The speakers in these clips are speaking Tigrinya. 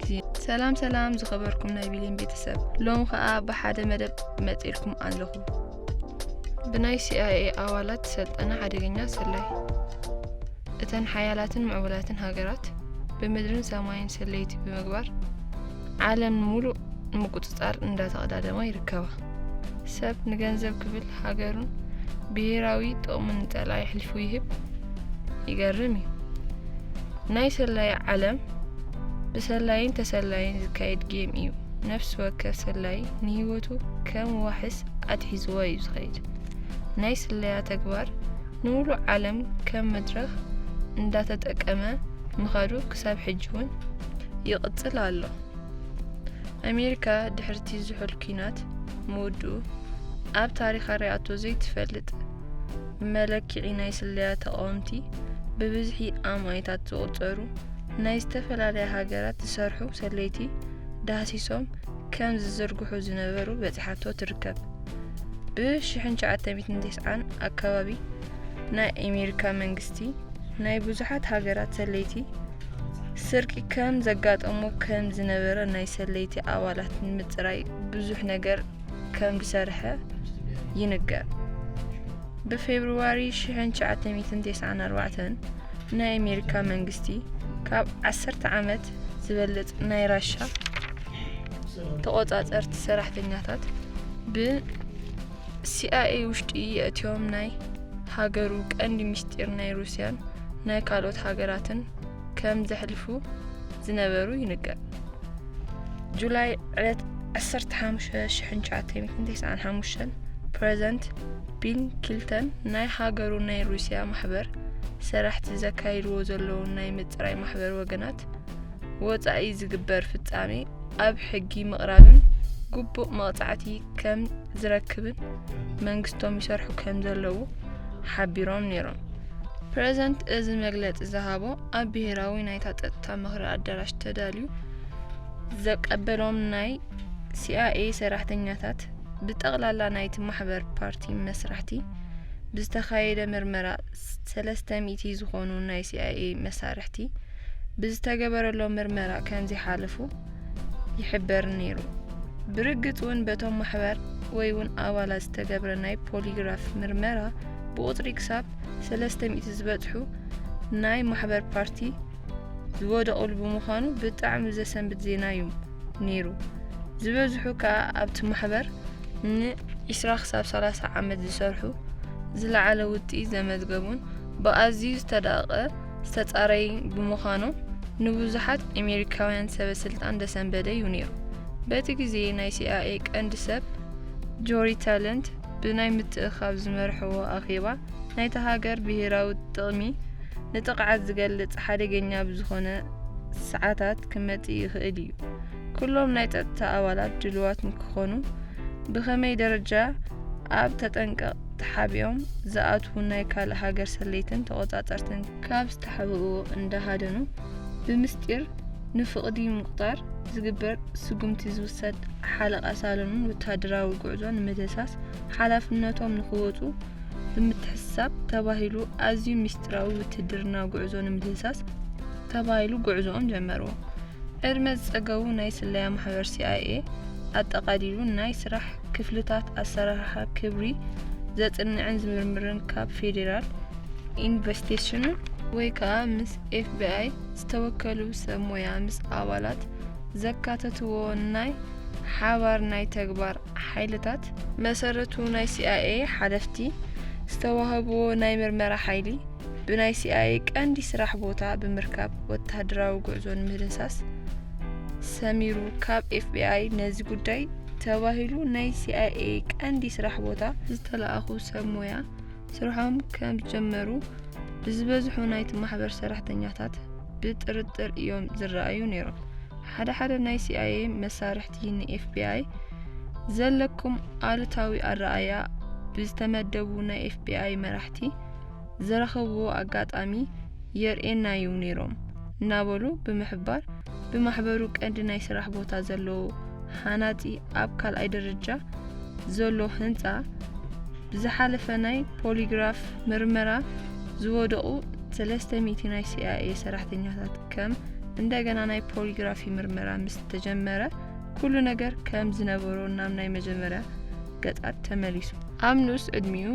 ግዜ ሰላም ሰላም ዝኸበርኩም ናይ ቢሊን ቤተሰብ ሎም ከኣ ብሓደ መደብ መጺልኩም ኣለኹ ብናይ ሲኣይኤ ኣባላት ሰልጠነ ሓደገኛ ሰላይ እተን ሓያላትን ምዕቡላትን ሃገራት ብምድርን ሰማይን ሰለይቲ ብምግባር ዓለም ሙሉእ ንምቁፅፃር እንዳተቐዳደማ ይርከባ ሰብ ንገንዘብ ክብል ሃገሩን ብሄራዊ ጥቕሙን ንጸላኢ ኣሕሊፉ ይህብ ይገርም እዩ። ናይ ሰላይ ዓለም ብሰላይን ተሰላይን ዝካየድ ጌም እዩ። ነፍሲ ወከፍ ሰላይ ንህይወቱ ከም ዋሕስ ኣትሒዝዎ እዩ ዝኸይድ። ናይ ስለያ ተግባር ንሙሉእ ዓለም ከም መድረኽ እንዳተጠቀመ ምኻዱ ክሳብ ሕጂ እውን ይቕጽል ኣሎ። ኣሜሪካ ድሕሪ'ቲ ዝሑል ኲናት ምውድኡ፣ ኣብ ታሪኻ ርኣቶ ዘይትፈልጥ መለክዒ ናይ ስለያ ተቓወምቲ፣ ብብዝሒ ኣማኢታት ዝቑጸሩ ናይ ዝተፈላለያ ሃገራት ዝሰርሑ ሰለይቲ ዳህሲሶም ከም ዝዝርግሑ ዝነበሩ በጺሓቶ ትርከብ። ብ1990 ኣከባቢ ናይ ኣሜሪካ መንግስቲ ናይ ብዙሓት ሃገራት ሰለይቲ ስርቂ ከም ዘጋጠሞ ከም ዝነበረ ናይ ሰለይቲ ኣባላት ንምፅራይ ብዙሕ ነገር ከም ዝሰርሐ ይንገር ብፌብርዋሪ 1994 ናይ ኣሜሪካ መንግስቲ ካብ 10 ዓመት ዝበልፅ ናይ ራሻ ተቆፃፀርቲ ሰራሕተኛታት ብ ሲኣይኤ ውሽጢ የእትዮም ናይ ሃገሩ ቀንዲ ምስጢር ናይ ሩስያን ናይ ካልኦት ሃገራትን ከም ዘሕልፉ ዝነበሩ ይንገር። ጁላይ ዕለት 15/1995 ፕረዘንት ቢል ክልተን ናይ ሃገሩ ናይ ሩስያ ማሕበር ሰራሕቲ ዘካይድዎ ዘለዉ ናይ ምፅራይ ማሕበር ወገናት ወፃኢ ዝግበር ፍፃሜ ኣብ ሕጊ ምቕራብን ግቡእ መቕፃዕቲ ከም ዝረክብን መንግስቶም ይሰርሑ ከም ዘለዉ ሓቢሮም ነይሮም። ፕረዘንት እዚ መግለጺ ዝሃቦ ኣብ ብሄራዊ ናይታ ጸጥታ ምኽሪ ኣዳራሽ ተዳልዩ ዘቀበሎም ናይ ሲኣይኤ ሰራሕተኛታት ብጠቕላላ ናይቲ ማሕበር ፓርቲ መስራሕቲ ብዝተኻየደ ምርመራ ሰለስተ ሚእቲ ዝኾኑ ናይ ሲኣይኤ መሳርሕቲ ብዝተገበረሎም ምርመራ ከምዘይሓለፉ ይሕበር ነይሩ። ብርግጽ እውን በቶም ማሕበር ወይ እውን ኣባላት ዝተገብረ ናይ ፖሊግራፍ ምርመራ ብቁጽሪ ክሳብ 300 ዝበጽሑ ናይ ማሕበር ፓርቲ ዝወደቑሉ ብምዃኑ ብጣዕሚ ዘሰንብድ ዜና እዩ ነይሩ። ዝበዝሑ ከዓ ኣብቲ ማሕበር ን20 ክሳብ 30 ዓመት ዝሰርሑ ዝለዓለ ውጥኢ ዘመዝገቡን ብኣዝዩ ዝተዳቐ ዝተጻረይ ብምዃኑ ንብዙሓት ኣሜሪካውያን ሰበስልጣን ደሰንበደዩ ነይሩ። በቲ ግዜ ናይ ሲኣይኤ ቀንዲ ሰብ ጆሪ ታለንት ብናይ ምትእኽኻብ ዝመርሕዎ ኣኼባ ናይታ ሃገር ብሄራዊ ጥቕሚ ንጥቕዓት ዝገልጽ ሓደገኛ ብዝኾነ ሰዓታት ክመጽእ ይኽእል እዩ። ኩሎም ናይ ጸጥታ ኣባላት ድልዋት ንክኾኑ ብኸመይ ደረጃ ኣብ ተጠንቀቕ ተሓቢኦም ዝኣትዉ ናይ ካልእ ሃገር ሰለይትን ተቖጻጸርትን ካብ ዝተሓብእዎ እንዳ ሃደኑ ብምስጢር ንፍቕዲ ምቑጣር ዝግበር ስጉምቲ ዝውሰድ ሓለቓ ሳሎንን ወተሃደራዊ ጉዕዞ ንምድህሳስ ሓላፍነቶም ንኽወጹ ብምትሕስሳብ ተባሂሉ ኣዝዩ ምስጢራዊ ውትህድርና ጉዕዞ ንምድህሳስ ተባሂሉ ጉዕዞኦም ጀመርዎ። ዕድመ ዝጸገቡ ናይ ስለያ ማሕበር ሲኣይኤ ኣጠቓሊሉ ናይ ስራሕ ክፍልታት ኣሰራርሓ ክብሪ ዘጽንዕን ዝምርምርን ካብ ፌዴራል ኢንቨስቴሽን ወይ ከኣ ምስ ኤፍቢኣይ ዝተወከሉ ሰብ ሞያ ምስ ኣባላት ዘካተትዎ ናይ ሓባር ናይ ተግባር ሓይልታት መሰረቱ ናይ ሲኣይኤ ሓለፍቲ ዝተዋህብዎ ናይ ምርመራ ሓይሊ ብናይ ሲኣይኤ ቀንዲ ስራሕ ቦታ ብምርካብ ወተሃደራዊ ጉዕዞ ንምህድንሳስ ሰሚሩ ካብ ኤፍቢኣይ ነዚ ጉዳይ ተባሂሉ ናይ ሲኣይኤ ቀንዲ ስራሕ ቦታ ዝተላእኹ ሰብ ሞያ ስርሖም ከምዝጀመሩ ብዝበዝሑ ናይቲ ማሕበር ሰራሕተኛታት ብጥርጥር እዮም ዝረኣዩ ነይሮም። ሓደ ሓደ ናይ ሲኣይኤ መሳርሕቲ ንኤፍቢኣይ ዘለኩም ኣሉታዊ ኣረኣእያ ብዝተመደቡ ናይ ኤፍቢኣይ መራሕቲ ዝረኸብዎ ኣጋጣሚ የርእየና'ዩ ነይሮም እናበሉ ብምሕባር፣ ብማሕበሩ ቀንዲ ናይ ስራሕ ቦታ ዘለዎ ሃናጺ ኣብ ካልኣይ ደረጃ ዘሎ ህንጻ ብዝሓለፈ ናይ ፖሊግራፍ ምርመራ ዝወደቑ ሰለስተ ሚእቲ ናይ ሲኣይኤ ሰራሕተኛታት ከም እንደገና ናይ ፖሊግራፊ ምርመራ ምስ ተጀመረ ኩሉ ነገር ከም ዝነበሮ ናብ ናይ መጀመርያ ገጻት ተመሊሱ። ኣብ ንኡስ ዕድሚኡ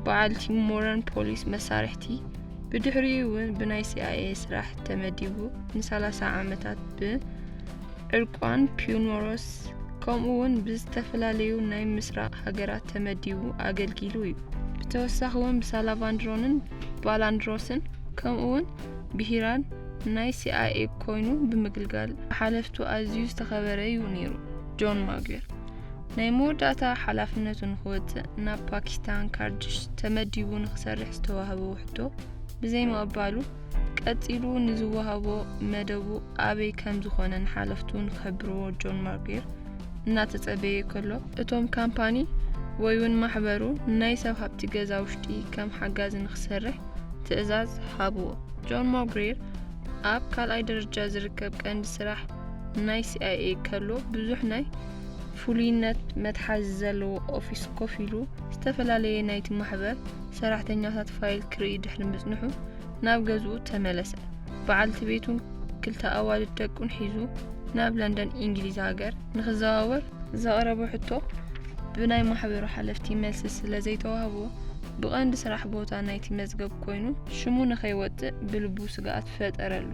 በዓል ቲም ሞረን ፖሊስ መሳርሕቲ ብድሕሪኡ እውን ብናይ ሲኣይኤ ስራሕ ተመዲቡ ን30 ዓመታት ብዕርቋን ፒዩኖሮስ ከምኡ እውን ብዝተፈላለዩ ናይ ምስራቕ ሃገራት ተመዲቡ ኣገልጊሉ እዩ። ብተወሳኺ እውን ብሳላቫንድሮንን ባላንድሮስን ከምኡ እውን ብሂራን ናይ ሲኣይኤ ኮይኑ ብምግልጋል ብሓለፍቱ ኣዝዩ ዝተኸበረ እዩ ነይሩ። ጆን ማግዌር ናይ መወዳእታ ሓላፍነቱ ንክወጽእ ናብ ፓኪስታን ካርድሽ ተመዲቡ ንክሰርሕ ዝተዋህበ ውሕቶ ብዘይምቕባሉ ቀጺሉ ንዝወሃቦ መደቡ ኣበይ ከም ዝኾነ ንሓለፍቱ ንክሕብርዎ ጆን ማርጌር እናተጸበየ ከሎ እቶም ካምፓኒ ወይ እውን ማሕበሩ ናይ ሰብ ሃብቲ ገዛ ውሽጢ ከም ሓጋዚ ንክሰርሕ ትእዛዝ ሃብዎ። ጆን ማርጌር ኣብ ካልኣይ ደረጃ ዝርከብ ቀንዲ ስራሕ ናይ ሲኣይኤ ከሎ ብዙሕ ናይ ፍሉይነት መትሓዚ ዘለዎ ኦፊስ ኮፍ ኢሉ ዝተፈላለየ ናይቲ ማሕበር ሰራሕተኛታት ፋይል ክርኢ ድሕሪ ምጽንሑ ናብ ገዝኡ ተመለሰ። በዓልቲ ቤቱን ክልተ ኣዋልድ ደቁን ሒዙ ናብ ለንደን ኢንግሊዝ ሃገር ንክዘዋወር ዘቕረቦ ሕቶ ብናይ ማሕበሩ ሓለፍቲ መልሲ ስለ ዘይተዋህቦ ብቐንዲ ስራሕ ቦታ ናይቲ መዝገብ ኮይኑ ሽሙ ንከይወጽእ ብልቡ ስግኣት ፈጠረሉ።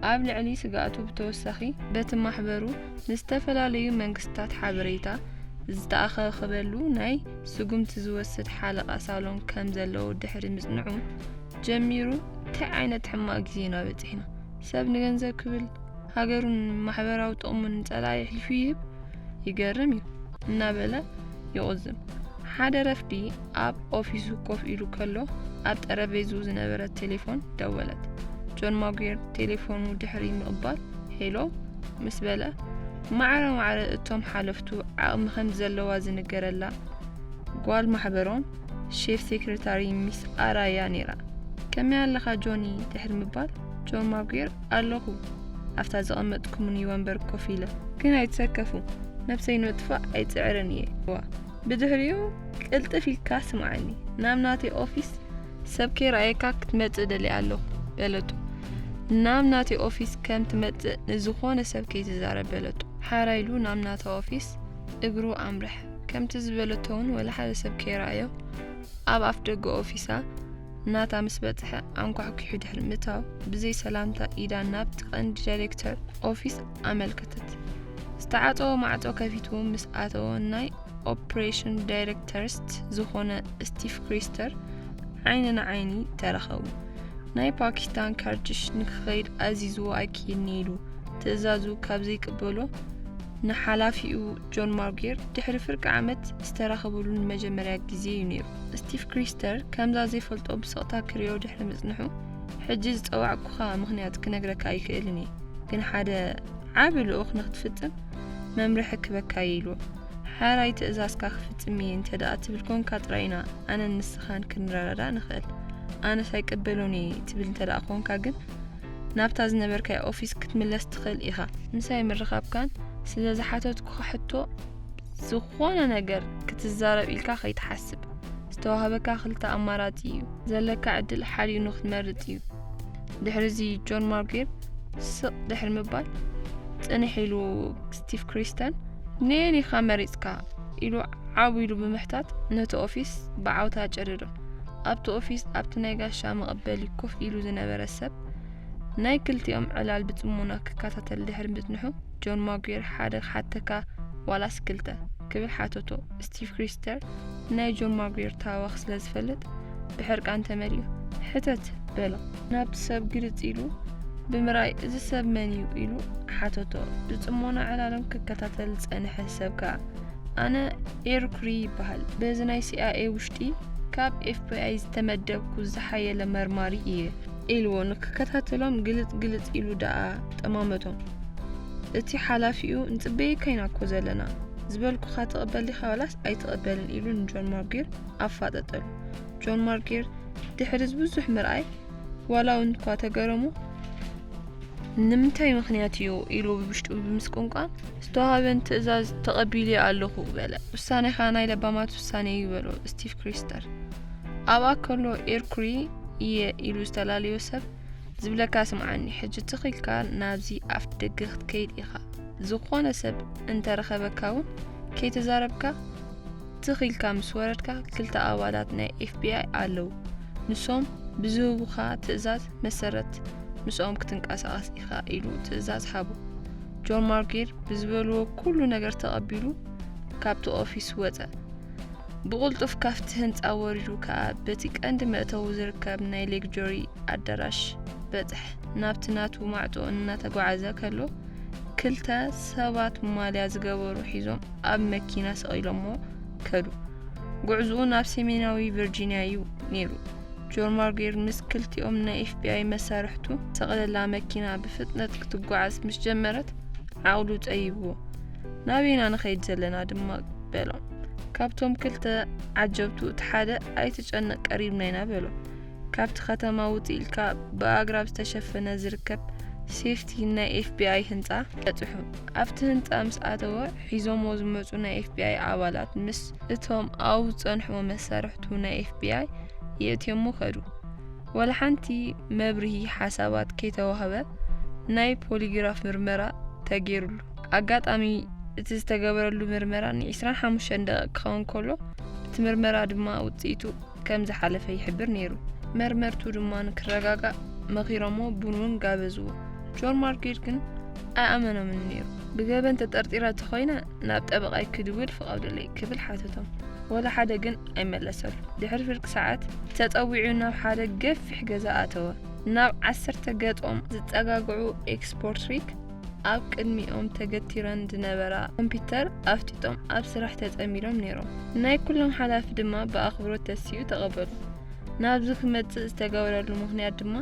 ኣብ ልዕሊ ስግኣቱ ብተወሳኺ በቲ ማሕበሩ ንዝተፈላለዩ መንግስታት ሓበሬታ ዝተኣኸኸበሉ ናይ ስጉምቲ ዝወስድ ሓለቓ ሳሎን ከም ዘለዎ ድሕሪ ምጽንዑ ጀሚሩ እንታይ ዓይነት ሕማቕ ግዜ ኢና በጺሕና ሰብ ንገንዘብ ክብል ሃገሩን ማሕበራዊ ጥቕሙን ንጸላኢ ኣሕሊፉ ይህብ ይገርም እዩ እናበለ ይቑዝም። ሓደ ረፍዲ ኣብ ኦፊሱ ኮፍ ኢሉ ከሎ ኣብ ጠረጴዝኡ ዝነበረት ቴሌፎን ደወለት። ጆን ማጉየር ቴሌፎኑ ድሕሪ ምቕባል ሄሎ ምስ በለ ማዕረ ማዕረ እቶም ሓለፍቱ ዓቕሚ ከም ዘለዋ ዝንገረላ ጓል ማሕበሮም ሼፍ ሴክሬታሪ ሚስ ኣራያ ነይራ። ከመይ ኣለኻ ጆኒ ድሕሪ ምባል ጆን ማጉየር ኣለኹ ኣብታ ዘቐመጥኩምኒ ወንበር ኮፍ ኢለ። ግን ኣይትሰከፉ፣ ነብሰይ ንምጥፋእ ኣይጽዕርን እየ። ዋ ብድሕሪኡ ቅልጥፍ ኢልካ ስምዓኒ፣ ናብ ናተይ ኦፊስ ሰብ ከይረኣየካ ክትመጽእ ደልየ ኣለኹ በለቶ። ናብ ናተይ ኦፊስ ከም ትመጽእ ንዝኾነ ሰብ ከይትዛረብ በለቶ። ሓራ ኢሉ ናብ ናታ ኦፊስ እግሩ ኣምርሐ። ከምቲ ዝበለቶ እውን ወላ ሓደ ሰብ ከይረኣዮ ኣብ ኣፍ ደገ ኦፊሳ ናታ ምስ በጽሐ ኣንኳሕኲሑ ድሕሪ ምእታው ብዘይ ሰላምታ ኢዳ ናብቲ ቀንዲ ዳይሬክተር ኦፊስ ኣመልከተት። ዝተዓጸወ ማዕጾ ከፊቱ ምስ ኣተወ ናይ ኦፕሬሽን ዳይሬክተርስት ዝኾነ ስቲቭ ክሪስተር ዓይኒ ንዓይኒ ተራኸቡ። ናይ ፓኪስታን ከርድሽ ንክኸይድ ኣዚዝዎ ኣይክይድኒ ኢሉ ትእዛዙ ካብ ዘይቅበሎ ንሓላፊኡ ጆን ማርጌር ድሕሪ ፍርቂ ዓመት ዝተራኸብሉ ንመጀመርያ ግዜ እዩ ነይሩ። ስቲቭ ክሪስተር ከምዛ ዘይፈልጦ ብስቕታ ክሪኦ ድሕሪ ምጽንሑ ሕጂ ዝጸዋዕኩኻ ምኽንያት ክነግረካ ኣይክእልን እየ ግን ሓደ ዓቢ ልኡኽ ንክትፍጽም መምርሒ ክበካ እየ ኢልዎ ሓራይ ትእዛዝካ ክፍጽም እየ እንተ ደኣ ትብል ኮንካ ጥራይ ኢና ኣነን ንስኻን ክንረዳዳእ ንኽእል ኣነስ ኣይቅበሎን እየ ትብል እንተ ደኣ ኮንካ ግን ናብታ ዝነበርካዮ ኦፊስ ክትምለስ ትኽእል ኢኻ ምሳይ ምርኻብካን ስለ ዝሓተትኩኻ ሕቶ ዝኾነ ነገር ክትዛረብ ኢልካ ከይትሓስብ። ዝተዋህበካ ክልተ ኣማራጺ እዩ። ዘለካ ዕድል ሓዲኡ ንክትመርጽ እዩ። ድሕሪዚ ጆን ማርጌር ስቕ ድሕሪ ምባል ጽንሕ ኢሉ ስቲቭ ክሪስተን ነየን ኢኻ መሪጽካ ኢሉ ዓው ኢሉ ብምሕታት ነቲ ኦፊስ ብዓውታ ጨደዶ። ኣብቲ ኦፊስ ኣብቲ ናይ ጋሻ መቐበሊ ኮፍ ኢሉ ዝነበረ ሰብ ናይ ክልቲኦም ዕላል ብጽሞና ክከታተል ድሕሪ ምጽንሑ ጆን ማጉየር ሓደ ክሓተካ ዋላስ ክልተ ክብል ሓተቶ። ስቲቭ ክሪስተር ናይ ጆን ማጉየር ታዋኽ ስለ ዝፈልጥ ብሕርቃን ተመሊኡ ሕተት በሎ። ናብቲ ሰብ ግልጽ ኢሉ ብምራይ እዚ ሰብ መን እዩ ኢሉ ሓተቶ። ብጽሞና ዕላሎም ክከታተል ዝጸንሐ ሰብ ከኣ ኣነ ኤርኩሪ ይበሃል በዚ ናይ ሲኣኤ ውሽጢ ካብ ኤፍቢኣይ ዝተመደብኩ ዝሓየለ መርማሪ እየ። ኢልዎ ንክከታተሎም ግልጽ ግልጽ ኢሉ ደኣ ጠማመቶም። እቲ ሓላፊኡ ንጽበየካ ኢና እኮ ዘለና ዝበልኩኻ ትቕበል ዲኻ ዋላስ ኣይትቕበልን ኢሉ ንጆን ማርጊር ኣፋጠጠሉ። ጆን ማርጊር ድሕሪ እዚ ብዙሕ ምርኣይ ዋላ እውን እኳ ተገረሙ ንምንታይ ምክንያት እዩ ኢሉ ብብሽጡ ብምስቁንቋን ዝተዋሃበን ትእዛዝ ተቐቢልየ ኣለኹ በለ። ውሳኔኻ ናይ ለባማት ውሳኔ እዩ በሎ ስቲቭ ክሪስተር። ኣብኣ ከሎ ኤርኩሪ እየ ኢሉ ዝተላለዮ ሰብ ዝብለካ ስምዓኒ ሕጂ ትኽ ኢልካ ናብዚ ኣፍ ደገ ክትከይድ ኢኻ ዝኾነ ሰብ እንተረኸበካ እውን ከይተዛረብካ ትኽ ኢልካ ምስ ወረድካ ክልተ ኣባላት ናይ ኤፍቢኣይ ኣለዉ ንሶም ብዝህቡኻ ትእዛዝ መሰረት ምስኦም ክትንቀሳቐስ ኢኻ ኢሉ ትእዛዝ ሃቦ ጆን ማርጌር ብዝበልዎ ኩሉ ነገር ተቐቢሉ ካብቲ ኦፊስ ወፀ ብቕልጡፍ ካብቲ ህንጻ ወሪዱ ከኣ በቲ ቀንዲ መእተዊ ዝርከብ ናይ ሌግጆሪ ኣዳራሽ በጽሐ። ናብቲ ናቱ ማዕጾ እናተጓዓዘ ከሎ ክልተ ሰባት ማልያ ዝገበሩ ሒዞም ኣብ መኪና ሰቒሎሞ ከዱ። ጉዕዝኡ ናብ ሰሜናዊ ቨርጂንያ እዩ ነይሩ። ጆን ማርጌር ምስ ክልቲኦም ናይ ኤፍቢኣይ መሳርሕቱ ሰቕለላ መኪና ብፍጥነት ክትጓዓዝ ምስ ጀመረት ዓቕሉ ጸይብዎ ናበይና ንኸይድ ዘለና ድማ በሎ። ካብቶም ክልተ ዓጀብቱ እቲ ሓደ ኣይትጨነቕ ቀሪብና ኢና በሎ። ካብቲ ከተማ ውፅእ ኢልካ ብኣግራብ ዝተሸፈነ ዝርከብ ሴፍቲ ናይ ኤፍቢኣይ ህንፃ በፅሑ ኣብቲ ህንፃ ምስ ኣተወ ሒዞሞ ዝመፁ ናይ ኤፍቢኣይ ኣባላት ምስ እቶም ኣብኡ ዝፀንሕዎ መሳርሕቱ ናይ ኤፍቢኣይ የእትዮሞ ከዱ ወላ ሓንቲ መብርሂ ሓሳባት ከይተዋህበ ናይ ፖሊግራፍ ምርመራ ተገይሩሉ ኣጋጣሚ እቲ ዝተገበረሉ ምርመራ ን25 ደቒቕ ክኸውን ከሎ፣ እቲ ምርመራ ድማ ውጽኢቱ ከም ዝሓለፈ ይሕብር ነይሩ። መርመርቱ ድማ ንክረጋጋእ መኺሮሞ ቡን እውን ጋበዝዎ። ጆን ማርኬት ግን ኣይኣመኖምን ነይሩ። ብገበን ተጠርጢረ እንተኾይነ ናብ ጠበቓይ ክድውል ፍቐዱለይ ክብል ሓተቶም። ወላ ሓደ ግን ኣይመለሰሉ። ድሕሪ ፍርቂ ሰዓት ተጸዊዑ ናብ ሓደ ገፊሕ ገዛ ኣተወ። ናብ ዓሰርተ ገጾም ዝጸጋግዑ ኤክስፖርትሪክ ኣብ ቅድሚኦም ተገቲረን ዝነበራ ኮምፒዩተር ኣፍጢጦም ኣብ ስራሕ ተጸሚዶም ነይሮም። ናይ ኩሎም ሓላፊ ድማ ብኣኽብሮት ተሲኡ ተቐበሉ። ናብዚ ክመጽእ ዝተገበረሉ ምኽንያት ድማ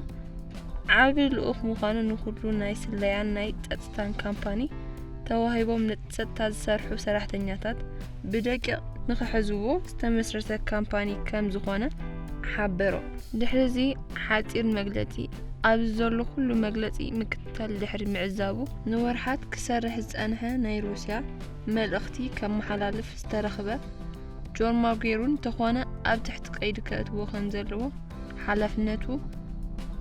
ዓቢ ልኡኽ ምዃኑ ንኹሉ ናይ ስለያን ናይ ጸጥታን ካምፓኒ ተዋሂቦም ንጸጥታ ዝሰርሑ ሰራሕተኛታት ብደቂቕ ንኽሕዝዎ ዝተመስረተ ካምፓኒ ከም ዝኾነ ሓበሮ። ድሕሪ እዚ ሓጺር መግለጺ ኣብዚ ዘሎ ኩሉ መግለጺ ምክትል ክኽተል ድሕሪ ምዕዛቡ፣ ንወርሓት ክሰርሕ ዝጸንሐ ናይ ሩስያ መልእኽቲ ከመሓላልፍ ዝተረኽበ ጆን ማጉዌሩ እንተኾነ ኣብ ትሕቲ ቀይዲ ከእትዎ ከምዘለዎ ሓላፍነቱ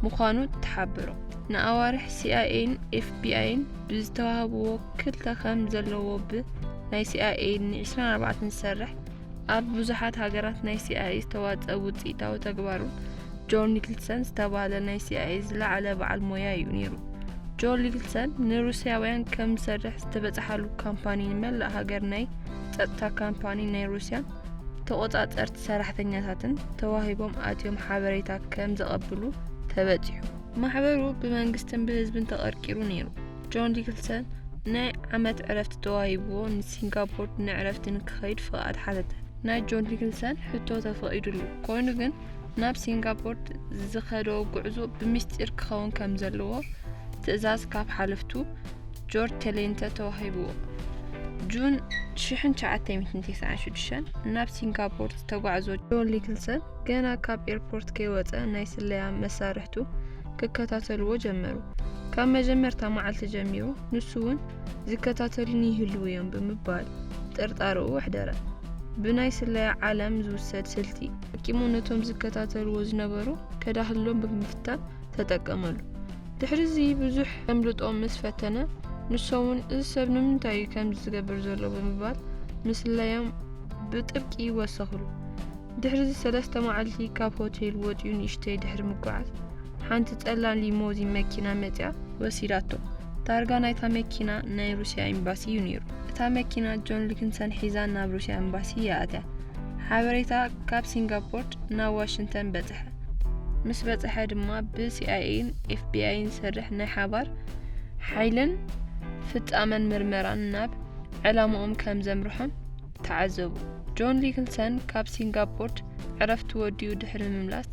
ምዃኑ ተሓብሮ። ንኣዋርሕ ሲኣይኤን ኤፍቢኣይን ብዝተዋህብዎ ክልተ ከም ዘለዎ ብ ናይ ሲኣይኤ ን ዒስራን ኣርባዕተን ዝሰርሕ ኣብ ብዙሓት ሃገራት ናይ ሲኣይኤ ዝተዋፀ ውፅኢታዊ ተግባሩ ጆን ኒክልሰን ዝተባህለ ናይ ሲኣይኤ ዝለዓለ በዓል ሞያ እዩ ነይሩ። ጆን ኒክልሰን ንሩስያውያን ከም ዝሰርሕ ዝተበፅሓሉ ካምፓኒ ንመላእ ሃገር ናይ ጸጥታ ካምፓኒ ናይ ሩስያን ተቆጻጸርቲ ሰራሕተኛታትን ተዋሂቦም ኣትዮም ሓበሬታ ከም ዘቐብሉ ተበጺሑ። ማሕበሩ ብመንግስትን ብህዝብን ተቐርቂሩ ነይሩ። ጆን ዲክልሰን ናይ ዓመት ዕረፍቲ ተዋሂብዎ ንሲንጋፖር ንዕረፍቲ ንክኸይድ ፍቓድ ሓተተ። ናይ ጆን ዲክልሰን ሕቶ ተፈቒዱሉ፣ ኮይኑ ግን ናብ ሲንጋፖር ዝኸዶ ጉዕዞ ብሚስጢር ክኸውን ከም ዘለዎ ትእዛዝ ካብ ሓለፍቱ ጆርጅ ቴሌንተ ተዋሂብዎ። ጁን 1996 ናብ ሲንጋፖር ዝተጓዕዞ ጆን ኒክልሰን ገና ካብ ኤርፖርት ከይወፀ ናይ ስለያ መሳርሕቱ ክከታተልዎ ጀመሩ። ካብ መጀመርታ መዓልቲ ጀሚሩ ንሱ እውን ዝከታተሉኒ ይህልዉ እዮም ብምባል ጥርጣረኡ ኣሕደረ። ብናይ ስለያ ዓለም ዝውሰድ ስልቲ ኣቂሙ ነቶም ዝከታተልዎ ዝነበሩ ከዳህሎም ብምፍታን ተጠቀመሉ። ድሕሪ እዚ ብዙሕ ከምልጦ ምስ ፈተነ ንሶውን እዚ ሰብ ንምንታይ እዩ ከምዚ ዝገብር ዘሎ ብምባል ምስለዮም ብጥብቂ ወሰኽሉ። ድሕሪዚ ሰለስተ መዓልቲ ካብ ሆቴል ወጺኡ ንእሽተይ ድሕሪ ምጉዓዝ ሓንቲ ጸላም ሊሞዚን መኪና መጺኣ ወሲዳቶ። ታርጋ ናይታ መኪና ናይ ሩስያ ኤምባሲ እዩ ነይሩ። እታ መኪና ጆን ሊክንሰን ሒዛ ናብ ሩስያ ኤምባሲ እያ ኣትያ። ሓበሬታ ካብ ሲንጋፖርት ናብ ዋሽንተን በጽሐ። ምስ በጽሐ ድማ ብሲኣይኤን ኤፍቢኣይን ዝሰርሕ ናይ ሓባር ሓይልን ፍጻመን ምርመራን ናብ ዕላማኦም ከም ዘምርሖም ተዓዘቡ። ጆን ሊክልሰን ካብ ሲንጋፖርት ዕረፍቲ ወዲኡ ድሕሪ ምምላስ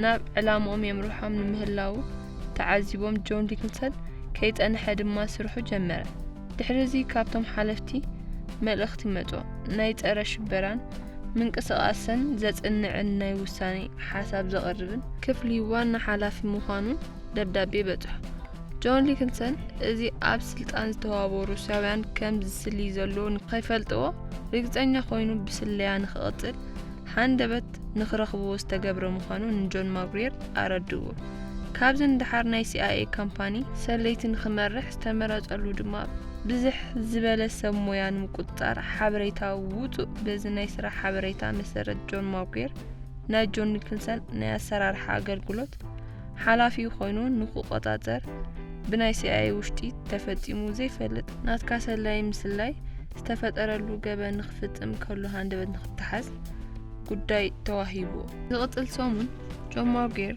ናብ ዕላምኦም የምርሖም ንምህላዉ ተዓዚቦም ጆን ሊክልሰን ከይጸንሐ ድማ ስርሑ ጀመረ። ድሕሪ እዚ ካብቶም ሓለፍቲ መልእኽቲ መጾ። ናይ ጸረ ሽበራን ምንቅስቓሰን ዘጽንዕን ናይ ውሳኔ ሓሳብ ዘቕርብን። ክፍሊ ዋና ሓላፊ ምዃኑ ደብዳቤ በጽሖ። ጆን ሊክንሰን እዚ ኣብ ስልጣን ዝተዋበሩ ሩስያውያን ከም ዝስሊ ዘሎ ንኸይፈልጥዎ ርግጸኛ ኮይኑ ብስለያ ንክቕጽል ሃንደበት ንክረኽብዎ ዝተገብረ ምዃኑ ንጆን ማጉሪየር ኣረድእዎ። ካብዚ ንደሓር ናይ ሲኣይኤ ካምፓኒ ሰለይቲ ንክመርሕ ዝተመረጸሉ ድማ ብዝሕ ዝበለ ሰብ ሞያ ንምቁጽጻር ሓበሬታ ውጹእ በዚ ናይ ስራሕ ሓበሬታ መሰረት ጆን ማጉሪየር ናይ ጆን ኒክልሰን ናይ ኣሰራርሓ ኣገልግሎት ሓላፊ ኮይኑ ንክቆጻጸር ብናይ ሲኣይኤ ውሽጢ ተፈጺሙ ዘይፈልጥ ናትካ ሰላዪ ምስላይ ዝተፈጠረሉ ገበን ንክፍጽም ከሎ ሃንደበት ንክተሓዝ ጉዳይ ተዋሂቡዎ። ዝቕጽል ሰሙን ጆን ሞርጌር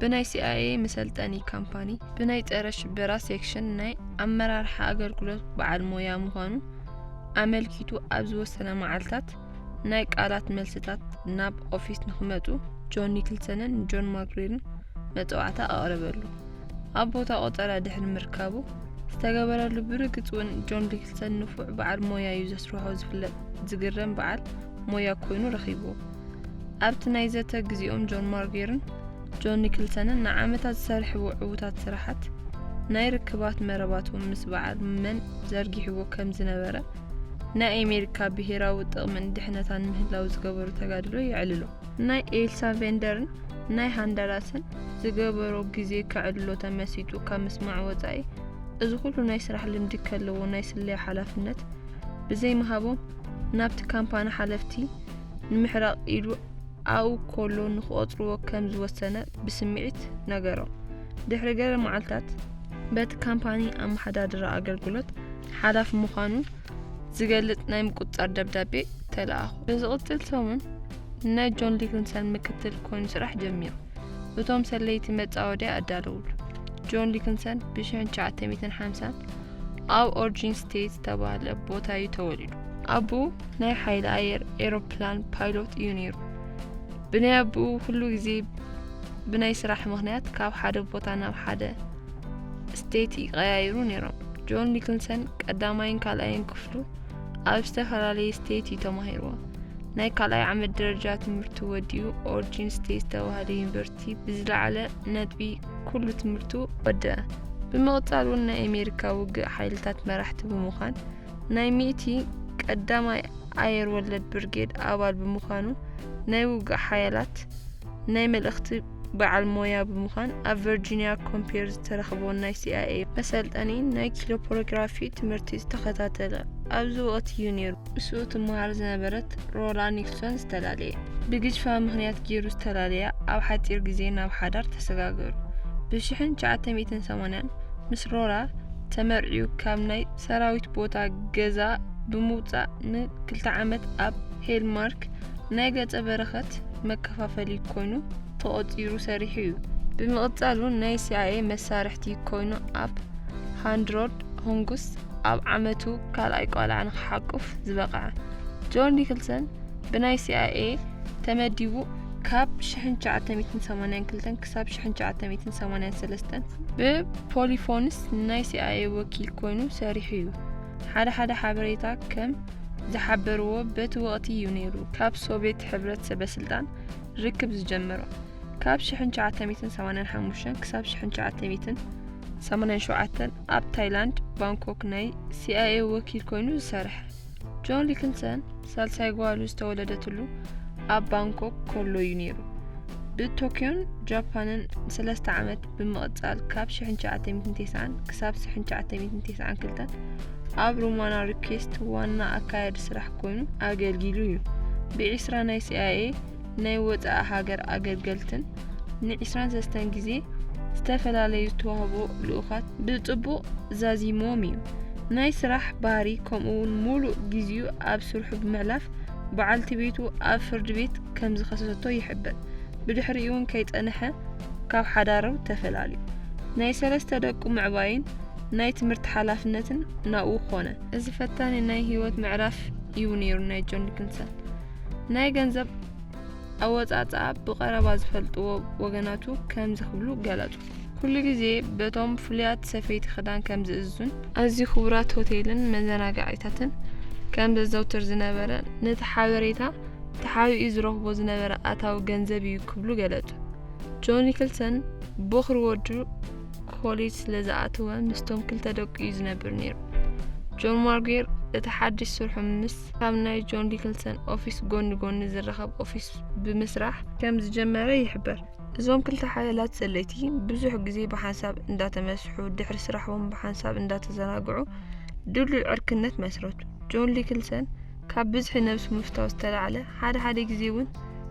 ብናይ ሲኣይኤ መሰልጠኒ ካምፓኒ ብናይ ጸረ ሽበራ ሴክሽን ናይ ኣመራርሓ ኣገልግሎት በዓል ሞያ ምዃኑ ኣመልኪቱ ኣብ ዝወሰነ መዓልታት ናይ ቃላት መልስታት ናብ ኦፊስ ንክመጹ ጆን ኒክልሰንን ጆን ማግሪርን መጽዋዕታ ኣቕረበሉ። ኣብ ቦታ ቆጸራ ድሕሪ ምርካቡ ዝተገበረሉ ብርግጽ እውን ጆን ዲክልሰን ንፉዕ በዓል ሞያ እዩ ዘስርሖ ዝፍለጥ ዝግረም በዓል ሞያ ኮይኑ ረኺቡ ኣብቲ ናይ ዘተ ግዜኦም ጆን ማርጌርን ጆን ኒክልሰንን ንዓመታት ዝሰርሕዎ ዕዉታት ስራሓት ናይ ርክባት መረባቶም ምስ በዓል መን ዘርጊሕዎ ከም ዝነበረ ናይ ኣሜሪካ ብሄራዊ ጥቕምን ድሕነታን ምህላው ዝገበሩ ተጋድሎ የዕልሎ። ናይ ኤልሳ ቬንደርን ናይ ሃንዳራስን ዝገበሮ ግዜ ከዕልሎ ተመሲጡ ካብ ምስማዕ ወጻኢ እዚ ኩሉ ናይ ስራሕ ልምዲ ከለዎ ናይ ስለያ ሓላፍነት ብዘይምሃቦም ናብቲ ካምፓኒ ሓለፍቲ ንምሕራቕ ኢሉ ኣብኡ ከሎ ንክቖጽርዎ ከም ዝወሰነ ብስምዒት ነገሮም። ድሕሪ ገለ መዓልታት በቲ ካምፓኒ ኣመሓዳድራ ኣገልግሎት ሓላፊ ምዃኑ ዝገልጽ ናይ ምቁጽጻር ደብዳቤ ተለኣኹ። ብዝቕጽል ሰሙን ናይ ጆን ሊክንሰን ምክትል ኮይኑ ስራሕ ጀሚሩ። እቶም ሰለይቲ መጻወድያ ኣዳለውሉ። ጆን ሊክንሰን ብ1950 ኣብ ኦርጂን ስቴት ዝተባህለ ቦታ እዩ ተወሊዱ። ኣቦኡ ናይ ሓይሊ ኣየር ኤሮፕላን ፓይሎት እዩ ነይሩ። ብናይ ኣቦኡ ኩሉ ግዜ ብናይ ስራሕ ምኽንያት ካብ ሓደ ቦታ ናብ ሓደ ስቴት ይቀያይሩ ነይሮም። ጆን ኒክልሰን ቀዳማይን ካልኣይን ክፍሉ ኣብ ዝተፈላለየ ስቴት እዩ ተማሂርዎ። ናይ ካልኣይ ዓመት ደረጃ ትምህርቱ ወዲኡ ኦርጂን ስቴት ዝተባህለ ዩኒቨርሲቲ ብዝለዓለ ነጥቢ ኩሉ ትምህርቱ ወደአ። ብምቕጻል እውን ናይ ኣሜሪካ ውግእ ሓይልታት መራሕቲ ብምዃን ናይ ሚእቲ ቀዳማይ ኣየር ወለድ ብርጌድ ኣባል ብምዃኑ ናይ ውግእ ሓያላት ናይ መልእኽቲ በዓል ሞያ ብምዃን ኣብ ቨርጂንያ ኮምፔር ዝተረኽቦ ናይ ሲኣይኤ መሰልጠኒ ናይ ኪሎፖሮግራፊ ትምህርቲ ዝተኸታተለ ኣብዚ ወቕቲ እዩ ነይሩ ምስኡ ትመሃር ዝነበረት ሮላ ኒክሶን ዝተላለየ ብግጅፋ ምክንያት ገይሩ ዝተላለያ ኣብ ሓፂር ግዜ ናብ ሓዳር ተሰጋገሩ ብ1980 ምስ ሮላ ተመርዕዩ ካብ ናይ ሰራዊት ቦታ ገዛ ብምውፃእ ንክልተ ዓመት ኣብ ሄልማርክ ሊግ ናይ ገጸ በረኸት መከፋፈሊ ኮይኑ ተቖጺሩ ሰሪሑ እዩ። ብምቕጻል'ውን ናይ ሲኣይኤ መሳርሕቲ ኮይኑ ኣብ ሃንድሮድ ሆንግስ ኣብ ዓመቱ ካልኣይ ቆልዓ ንክሓቁፍ ዝበቕዐ ጆን ኒክልሰን ብናይ ሲኣይኤ ተመዲቡ ካብ 1982 ክሳብ 1983 ብፖሊፎንስ ናይ ሲኣይኤ ወኪል ኮይኑ ሰሪሑ እዩ። ሓደ ሓደ ሓበሬታ ከም ዝሓበርዎ በቲ ወቕቲ እዩ ነይሩ ካብ ሶቬት ሕብረት ሰበስልጣን ርክብ ዝጀመሮ ካብ 1985 ክሳብ 1987 ኣብ ታይላንድ ባንኮክ ናይ ሲኣይኤ ወኪል ኮይኑ ዝሰርሐ ጆን ሊክንሰን ሳልሳይ ጓሉ ዝተወለደትሉ ኣብ ባንኮክ ከሎ እዩ ነይሩ ብቶክዮን ጃፓንን ሰለስተ ዓመት ብምቕጻል ካብ 1990 ክሳብ 1992 ኣብ ሩማና ሪኩዌስት ዋና ኣካያዲ ስራሕ ኮይኑ ኣገልጊሉ እዩ። ብዒስራ ናይ ሲኣይኤ ናይ ወፃኢ ሃገር ኣገልገልትን ንዒስራን ሰለስተን ግዜ ዝተፈላለዩ ዝተዋህቦ ልኡኻት ብፅቡቕ ዛዚሞም እዩ። ናይ ስራሕ ባህሪ ከምኡ እውን ሙሉእ ግዜኡ ኣብ ስርሑ ብምሕላፍ በዓልቲ ቤቱ ኣብ ፍርዲ ቤት ከም ዝኸሰሰቶ ይሕብር። ብድሕሪኡ እውን ከይፀንሐ ካብ ሓዳሩ ተፈላልዩ። ናይ ሰለስተ ደቁ ምዕባይን ናይ ትምህርቲ ሓላፍነትን ናብኡ ኮነ። እዚ ፈታኒ ናይ ህይወት ምዕራፍ እዩ ነይሩ ናይ ጆን ዲክንሰን። ናይ ገንዘብ ኣወጻጽኣ ብቐረባ ዝፈልጥዎ ወገናቱ ከምዚ ክብሉ ገለጹ። ኩሉ ግዜ በቶም ፍሉያት ሰፈይቲ ክዳን ከም ዝእዝዙን ኣዝዩ ክቡራት ሆቴልን መዘናጋዒታትን ከም ዘዘውትር ዝነበረ ነቲ ሓበሬታ ተሓቢኡ ዝረኽቦ ዝነበረ ኣታዊ ገንዘብ እዩ ክብሉ ገለጹ። ጆን ኒክልሰን ቦኽሪ ወዱ ኮሌጅ ስለ ዝኣተወ ምስቶም ክልተ ደቁ እዩ ዝነብር ነይሩ። ጆን ማርጌር እቲ ሓድሽ ስርሑ ምስ ካብ ናይ ጆን ዲክልሰን ኦፊስ ጎኒ ጎኒ ዝረኸብ ኦፊስ ብምስራሕ ከም ዝጀመረ ይሕበር። እዞም ክልተ ሓያላት ሰለይቲ ብዙሕ ግዜ ብሓንሳብ እንዳተመስሑ ድሕሪ ስራሕዎም ብሓንሳብ እንዳተዘናግዑ ድሉይ ዕርክነት መስረቱ። ጆን ዲክልሰን ካብ ብዝሒ ነብሱ ምፍታው ዝተላዕለ፣ ሓደ ሓደ ግዜ እውን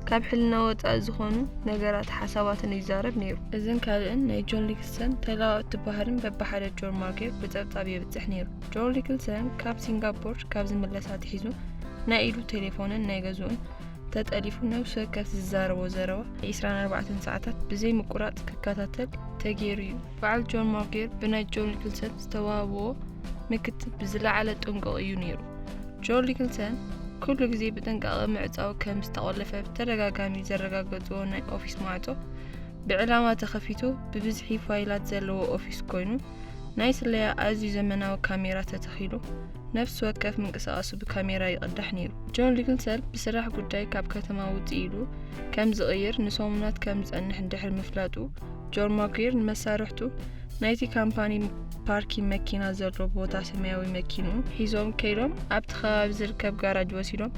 ካብ ሕልና ወጻኢ ዝኾኑ ነገራትን ሓሳባትን እዩ ይዛረብ ነይሩ። እዝን ካልእን ናይ ጆን ሊክልሰን ተለዋወጥቲ ባህርን በብሓደ ጆር ማጌር ብጸብጻብ የብጽሕ ነይሩ። ጆር ሊክልሰን ካብ ሲንጋፖር ካብ ዝምለስ ኣትሒዙ ናይ ኢዱ ቴሌፎንን ናይ ገዝኡን ተጠሊፉ ነብሲ ወከፍ ዝዛረቦ ዘረባ ንዒስራን ኣርባዕተን ሰዓታት ብዘይ ምቁራጽ ክከታተል ተገይሩ እዩ። በዓል ጆን ማጌር ብናይ ጆን ሊክልሰን ዝተዋህብዎ ምክትብ ብዝለዓለ ጥንቁቕ እዩ ነይሩ። ጆን ሊክልተን ኩሉ ግዜ ብጥንቃቐ ምዕጻው ከም ዝተቖለፈ ብተደጋጋሚ ዘረጋገጽዎ ናይ ኦፊስ ማዕጾ ብዕላማ ተኸፊቱ ብብዝሒ ፋይላት ዘለዎ ኦፊስ ኮይኑ ናይ ስለያ ኣዝዩ ዘመናዊ ካሜራ ተተኺሉ ነፍሲ ወከፍ ምንቅስቓሱ ብካሜራ ይቕዳሕ ነይሩ። ጆን ሊክልተን ብስራሕ ጉዳይ ካብ ከተማ ውጽእ ኢሉ ከም ዝቕይር ንሰሙናት ከም ዝጸንሕ እንድሕር ምፍላጡ ጆን ማኩየር ንመሳርሕቱ ናይቲ ካምፓኒ ፓርኪን መኪና ዘሎ ቦታ ሰማያዊ መኪንኡ ሒዞም ከይዶም ኣብቲ ከባቢ ዝርከብ ጋራጅ ወሲዶም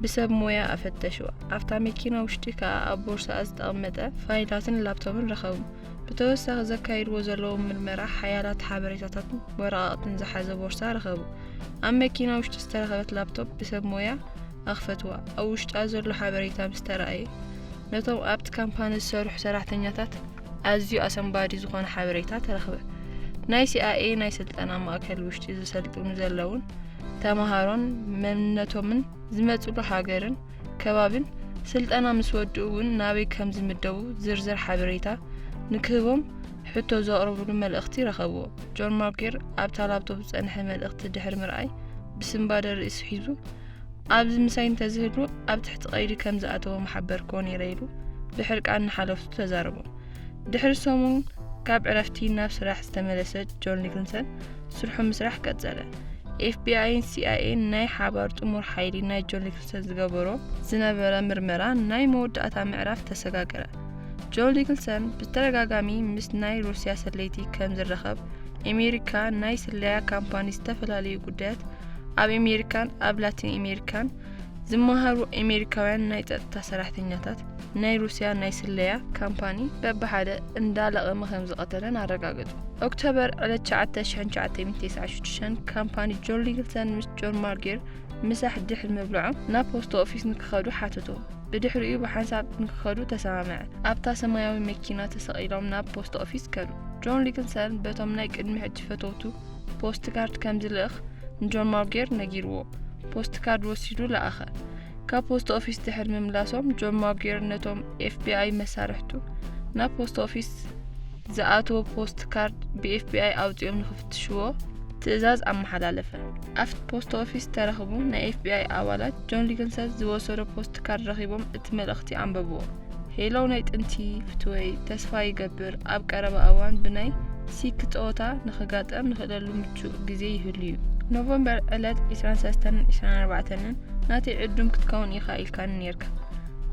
ብሰብ ሞያ ኣፈተሽዋ። ኣብታ መኪና ውሽጢ ከኣ ኣብ ቦርሳኣ ዝተቐመጠ ፋይላትን ላፕቶፕን ረኸቡ። ብተወሳኺ ዘካይድዎ ዘለዉ ምርመራ ሓያላት ሓበሬታታትን ወረቓቕትን ዝሓዘ ቦርሳ ረኸቡ። ኣብ መኪና ውሽጢ ዝተረኸበት ላፕቶፕ ብሰብ ሞያ ኣኽፈትዋ። ኣብ ውሽጣ ዘሎ ሓበሬታ ምስ ተራእየ ነቶም ኣብቲ ካምፓኒ ዝሰርሑ ሰራሕተኛታት ኣዝዩ ኣሰንባዲ ዝኾነ ሓበሬታ ተረኽበ። ናይ ሲኣይኤ ናይ ስልጠና ማእከል ውሽጢ ዝሰልጥኑ ዘለውን ተማሃሮን መንነቶምን ዝመጽሉ ሃገርን ከባቢን ስልጠና ምስ ወድኡ እውን ናበይ ከም ዝምደቡ ዝርዝር ሓበሬታ ንክህቦም ሕቶ ዘቕርብሉ መልእኽቲ ረኸብዎ። ጆን ማርኬር ኣብታ ላፕቶፕ ዝጸንሐ መልእኽቲ ድሕሪ ምርኣይ ብስንባደ ርእሲ ሒዙ ኣብዚ ምሳይ እንተዝህሉ ኣብ ትሕቲ ቀይዲ ከም ዝኣተዎ ምሓበርክዎ ነይረ ኢሉ ብሕርቃን ንሓለፍቱ ተዛረቦም። ድሕሪ ሰሙን ካብ ዕረፍቲ ናብ ስራሕ ዝተመለሰ ጆን ኒክልሰን ስርሑ ምስራሕ ቀጸለ። ኤፍቢኣይን ሲኣይኤን ናይ ሓባር ጥሙር ሓይሊ ናይ ጆን ኒክልሰን ዝገበሮ ዝነበረ ምርመራ ናይ መወዳእታ ምዕራፍ ተሰጋገረ። ጆን ኒክልሰን ብተደጋጋሚ ምስ ናይ ሩስያ ሰለይቲ ከም ዝራኸብ ኣሜሪካ ናይ ስለያ ካምፓኒ ዝተፈላለዩ ጉዳያት ኣብ ኣሜሪካን ኣብ ላቲን ኣሜሪካን ዝመሃሩ ኣሜሪካውያን ናይ ጸጥታ ሰራሕተኛታት ናይ ሩስያ ናይ ስለያ ካምፓኒ በብሓደ እንዳለቐመ ከም ዝቐተለን ኣረጋገጹ ኦክቶበር ዕለት 9996 ካምፓኒ ጆን ሊግልተን ምስ ጆን ማርጌር ምሳሕ ድሕሪ ምብልዖም ናብ ፖስቶ ኦፊስ ንክኸዱ ሓተቶ ብድሕሪኡ ብሓንሳብ ንክኸዱ ተሰማምዐ ኣብታ ሰማያዊ መኪና ተሰቒሎም ናብ ፖስቶ ኦፊስ ከዱ ጆን ሊግልተን በቶም ናይ ቅድሚ ሕጂ ፈተውቱ ፖስት ካርድ ከም ዝልእኽ ንጆን ማውጌር ነጊርዎ። ፖስት ካርድ ወሲዱ ለኣኸ። ካብ ፖስት ኦፊስ ድሕሪ ምምላሶም ጆን ማውጌር ነቶም ኤፍቢኣይ መሳርሕቱ ናብ ፖስት ኦፊስ ዝኣተወ ፖስት ካርድ ብኤፍቢኣይ ኣውፂኦም ንክፍትሽዎ ትእዛዝ ኣመሓላለፈ። ኣብቲ ፖስት ኦፊስ ተረኽቡ ናይ ኤፍቢኣይ ኣባላት ጆን ሊግንሰት ዝወሰዶ ፖስት ካርድ ረኺቦም እቲ መልእኽቲ ኣንበብዎ። ሄሎ ናይ ጥንቲ ፍትወይ ተስፋ ይገብር ኣብ ቀረባ እዋን ብናይ ሲክ ጸወታ ንክጋጠም ንኽእለሉ ምቹእ ግዜ ይህሉ እዩ ኖቨምበር ዕለት 23ን 24ን ናተይ ዕዱም ክትከውን ኢኻ ኢልካኒ ነርካ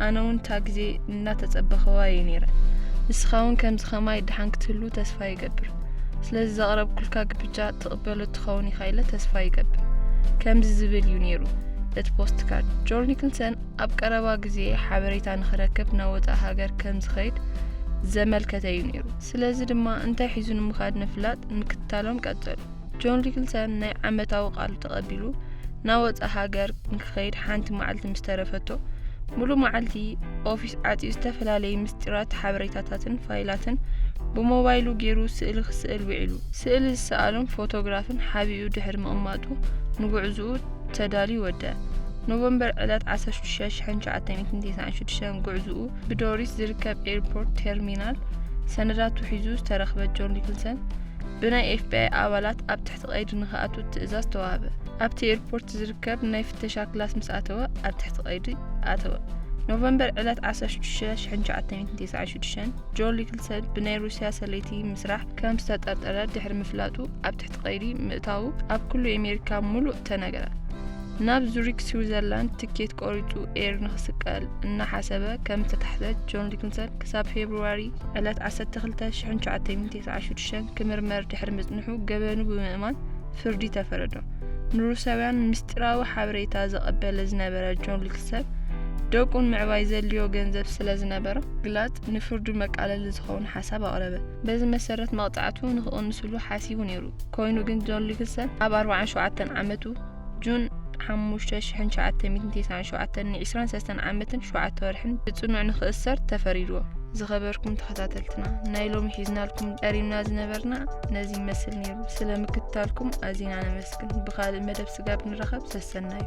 ኣነ እውን እታ ግዜ እናተጸበኸዋ እየ ነይረ ንስኻ እውን ከምዚ ከማይ ድሓን ክትህሉ ተስፋ ይገብር ስለዚ ዘቕረብኩልካ ግብጃ ትቕበሎ ትኸውን ኢኻ ኢለ ተስፋ ይገብር ከምዚ ዝብል እዩ ነይሩ እቲ ፖስት ካርድ ጆል ኒክልሰን ኣብ ቀረባ ግዜ ሓበሬታ ንክረክብ ናብ ወጻኢ ሃገር ከም ዝኸይድ ዘመልከተ'ዩ ነይሩ። ስለዚ ድማ እንታይ ሒዙ ንምኻድ ንፍላጥ ምክትታሎም ቀጸሉ። ጆን ሊክልሰን ናይ ዓመታዊ ቃሉ ተቐቢሉ ናብ ወጻኢ ሃገር ንክኸይድ ሓንቲ መዓልቲ ምስ ተረፈቶ ሙሉእ መዓልቲ ኦፊስ ዓጽዩ ዝተፈላለየ ምስጢራት ሓበሬታታትን ፋይላትን ብሞባይሉ ገይሩ ስእሊ ክስእል ውዒሉ። ስእሊ ዝሰኣሎም ፎቶግራፍን ሓቢኡ ድሕሪ ምቕማጡ ንጉዕዝኡ ተዳልዩ ወደ ኖቨምበር ዕለት 16,996 ጉዕዝኡ ብዶሪስ ዝርከብ ኤርፖርት ቴርሚናል ሰነዳት ውሒዙ ዝተረኽበ ጆን ኒክልሰን ብናይ ኤፍቢኣይ ኣባላት ኣብ ትሕቲ ቀይዲ ንክኣቱ ትእዛዝ ተዋህበ። ኣብቲ ኤርፖርት ዝርከብ ናይ ፍተሻ ክላስ ምስ ኣተወ ኣብ ትሕቲ ቀይዲ ኣተወ። ኖቨምበር ዕለት 16,1996 ጆን ኒክልሰን ብናይ ሩስያ ሰለይቲ ምስራሕ ከም ዝተጠርጠረ ድሕሪ ምፍላጡ ኣብ ትሕቲ ቀይዲ ምእታዉ ኣብ ኩሉ ኤሜሪካ ሙሉእ ተነግረ። ናብ ዙሪክ ስዊዘርላንድ ትኬት ቆሪጹ ኤር ንክስቀል እናሓሰበ ከም ዝተታሕዘ ጆን ሊክንሰን ክሳብ ፌብርዋሪ ዕለት ዓሰርተ ክልተ ሽሕን ትሽዓተ ሚእትን ተስዓን ሽዱሽተን ክምርመር ድሕሪ ምጽንሑ ገበኑ ብምእማን ፍርዲ ተፈረዶ። ንሩስያውያን ምስጢራዊ ሓበሬታ ዘቐበለ ዝነበረ ጆን ሊክንሰን ደቁ ንምዕባይ ዘድልዮ ገንዘብ ስለ ዝነበሮ ግላጽ ንፍርዱ መቃለሊ ዝኸውን ሓሳብ ኣቕረበ። በዚ መሰረት መቕጻዕቱ ንክቕንስሉ ሓሲቡ ነይሩ። ኮይኑ ግን ጆን ሊግሰን ኣብ ኣርብዓን ሸውዓተን ዓመቱ፣ June 5፣ 1997፣ ን ዕስራን ሰለስተን ዓመትን ሸውዓተ ወርሕን ብጽኑዕ ንክእሰር ተፈሪድዎ። ዝኸበርኩም ተኸታተልትና ናይ ሎሚ ሒዝናልኩም ቀሪብና ዝነበርና ነዚ ይመስል ነይሩ። ስለ ምክትታልኩም ኣዚና ነመስግን። ብኻልእ መደብ ስጋብ ንራኸብ ሰሰናዩ።